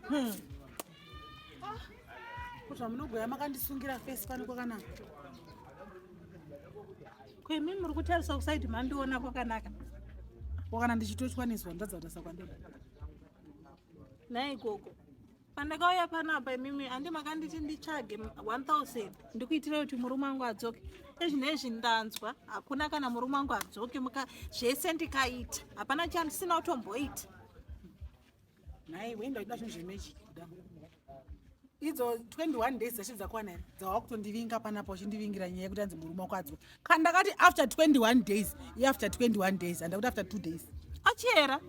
Hmm. Ah, kuti vamunogoya makandisungira fesi pano kwakanaka kwemi muri kutarisa kusaidi mandiona kwakanaka wakana ndichitochwaniswa ndatsa kutasa kwandona naye ikoko pandakauya panapa imimi handi makanditi nditsvage 1000 ndikuitira kuti murume wangu adzoke izvi nezvi ndanzwa hakuna kana murume wangu adzoke muka zvese ndikaita hapana chandisina kutomboita nhai wenda kuda zvinhu zvemechi kuda idzo 21 days dzashe dzakwana here dzava kutondivinga panapa uchindivingira nyaya yekuti anzi murume wako adzoke kana ndakati after 21 days iafter 21 days handakuti after two days achiyera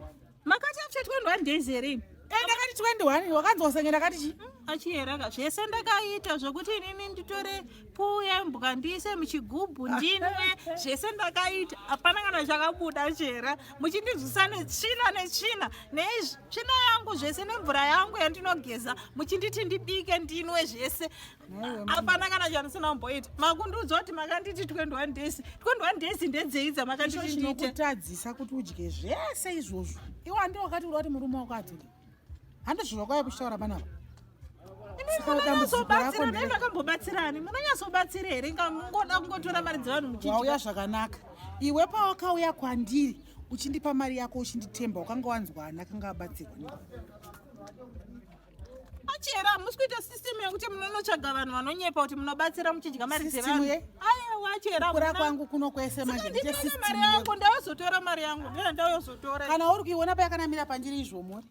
makati after 21 days here imi ende akati 21 wakanzi wasenge ndakati chi mm, achiyeraka zvese ndakaita zvekuti inini nditore puu yembwa ndiise muchigubhu ndinwe zvese ndakaita hapana kana chakabuda chera muchindidzvisa netsvina netsvina netsvina yangu zvese nemvura yangu yandinogeza muchinditi ndibike ndinwe zvese hapana kana chamusina kumboita makundiudza kuti makanditi 21 days 21 days ndedzei dzamakandititinokutadzisa kuti udye zvese izvozvo iwe andi wakati uri wati murume wako adzike handi zviro kwaya kuchitaura panapa makambobatsirani munonyasobatsira here ngangoda kungotora mari dzevanhu muchiwauya zvakanaka iwe pawakauya kwandiri uchindipa mari yako uchinditemba ukanga wanzwana kanga abatsirwa chera hamusi kuita system yekuti munonotsvaga vanhu vanonyepa kuti munobatsira muchidya mari dzevanhu aiwa chera kura kwangu kuno kwese manje mari yangu ndayozotora mari yangu ndina ndayozotora kana uri kuiona payakanamira pandiri izvomuri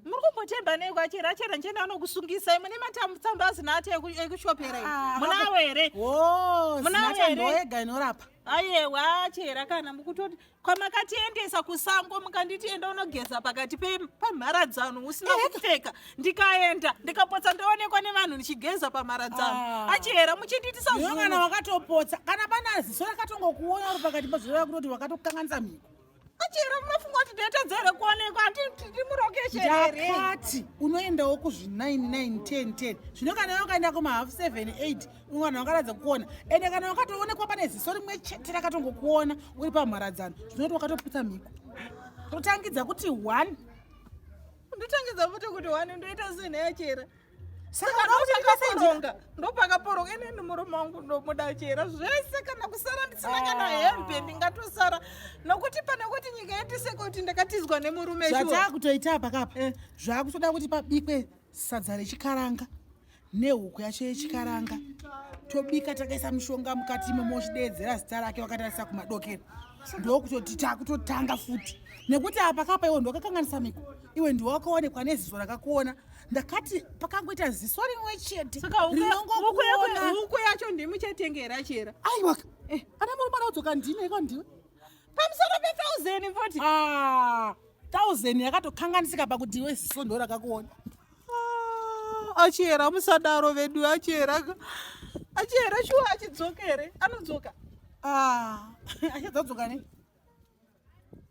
muri kumbotemba nei kwachera achera ndichenda anokusungisai mune matambutsamba asina ati ekushopera ah, munawo here munawo here inorapa ayewa chera kana mukutoti kwamakatiendesa kusango mukanditi enda unogeza pakati pamharadzano usina eh. kupfeka ndikaenda ndikapotsa ndoonekwa nevanhu ndichigeza pamharadzano ah. achihera muchinditisa zvokana wakatopotsa kana pana ziso rakatongokuona uri pakati pazvova kutoti wakatokanganisa mhiko achihera munofunga kuti ndetedza here kuonekwa ndimurokesheakati unoendawo kuzvi 9 9 10 10 zvino kana yokaenda kumahalf 7 8 vanhu vangaratidza kukuona ende kana wakatoonekwa pane ziso rimwe chete rakatongokuona uri pamharadzano zvinoti wakatoputsa mhiko totangidza kuti one ndotangidza futi kuti one ndoita zvinhu yachera saka ndopakaporonga ndopakaporonga inini murume wangu ndomuda chera zvese kana kusara ndisina kana ah. hembe ndingatosara nokuti pane kuti nyika yatise kuti ndakatizwa nemurume zvataa kutoita pakapa eh. zvakutoda kuti pabikwe sadza rechikaranga nehuku yacho yechikaranga tobika takaisa mushonga mukati imomo uchideedzera zita rake wakatarisa kumadokero ndokutoti takutotanga futi nekuti apa kapa iwo ndokakanganisa miko iwe ndiwe wakaonekwa neziso rakakuona ndakati pakangoita ziso rimwe chete rinongohuku yacho ndimuchatengera chera aiwa eh. ana murume anaudzoka ndine iko ndiwe pamusoro pethousan foti ah. 1000 yakatokanganisika pakuti iwe ziso ndo rakakuona ah, achiyera musadaro vedu achiyera achiyera shuwa achidzoka here anodzoka ah, achadzadzoka ne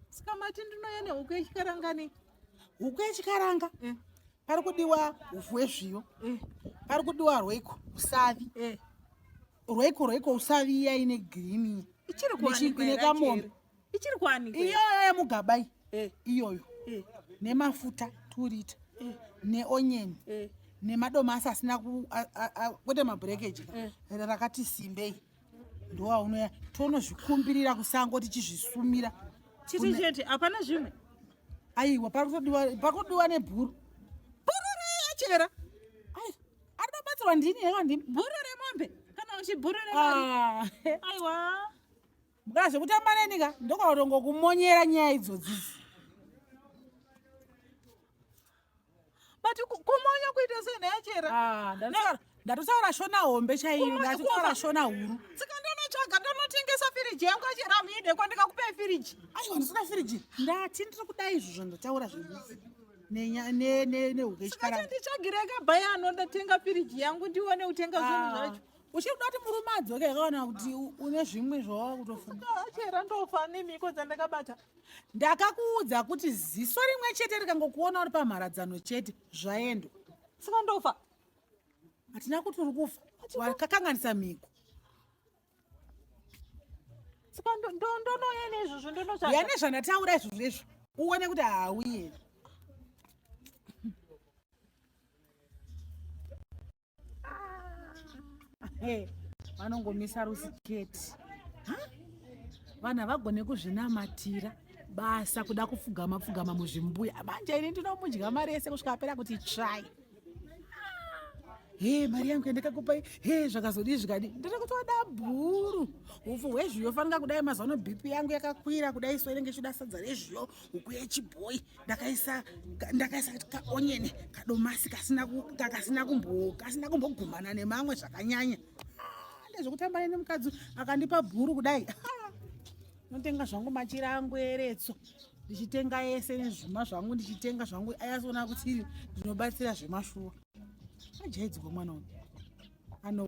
sikamati ndinouya nehuku yechikaranga ne huku yechikaranga eh. pari kudiwa ufu wezviyo eh. pari kudiwa rweiko usavi eh. rweiko rweiko usavi iya ine girini ichiri kuwanikwa ine kamombe ichiri kwani iyoyo yemugaba iyi eh. iyoyo eh. nemafuta two liter eh. neonyeni nemadomasi asina kwete mabrekeji rakati simbei ndowaunoya tonozvikumbirira kusango tichizvisumira chiti chete hapana zvimwe aiwa pakutodiwa nebhuru bhuru reyachera ai ari batsirwa ndini yaka ndini bhuru remombe kana uchibhuru remari ah. aiwa Mukana zvekutamba neni ka ndokautongo kumonyera nyaya idzodzizi. But kumonya kuita sei nhaya chera? Ah, ndatotaura ndatotaura shona hombe chaiyo ndatotaura shona huru. Tsika ndonotsvaga ndonotengesa firiji yangu achera muide kwandikakupa firiji. Aiwa ndisina firiji. Ndati ndiri kuda izvo zvandotaura zvedu. Nenya ne ne ne uke chikara. Saka nditsvagire ka bhaya anoda tenga firiji yangu ndione utenga zvinhu ah. zvacho. uchiri kuda kuti murume adzoke akaona kuti une zvimwe zvawava kutofungaachera ndofa nemhiko dzandakabata ndakakuudza kuti ziso rimwe chete rikangokuona uri pamharadzano chete zvaendwa saka ndofa hatina kuti uri kufa wakakanganisa mhiko saka ndonouya neizvozvo ndonoya nezvandataura izvozvo izvo uone kuti hauye Hey, vanongomisa rusiketi vanhu havagone kuzvinamatira basa kuda kupfugama pfugama muzvimbuya manje ini ndinomudya mari yese kusvika apera kuti try he mari yangu yandakakupai he zvakazodii zvikadi ndiri kutoda bhuru upfu hwezviyo fanira kudai mazuva ano bp yangu yakakwira kudai so inenge ichida sadza rezviyo huku yechibhoyi ndakaisa ndakaisa kaonyeni kadomasi kasina kasina kumbo kasina kumbogumana nemamwe zvakanyanya ah, ndezvekutamba neni mukadzi akandipa bhuru kudai ah, notenga zvangu machira angu eretso ndichitenga yese nezvuma zvangu ndichitenga zvangu ayasoona kuti ndinobatsira zvemashuwa ajaidzwa mwana uyu ano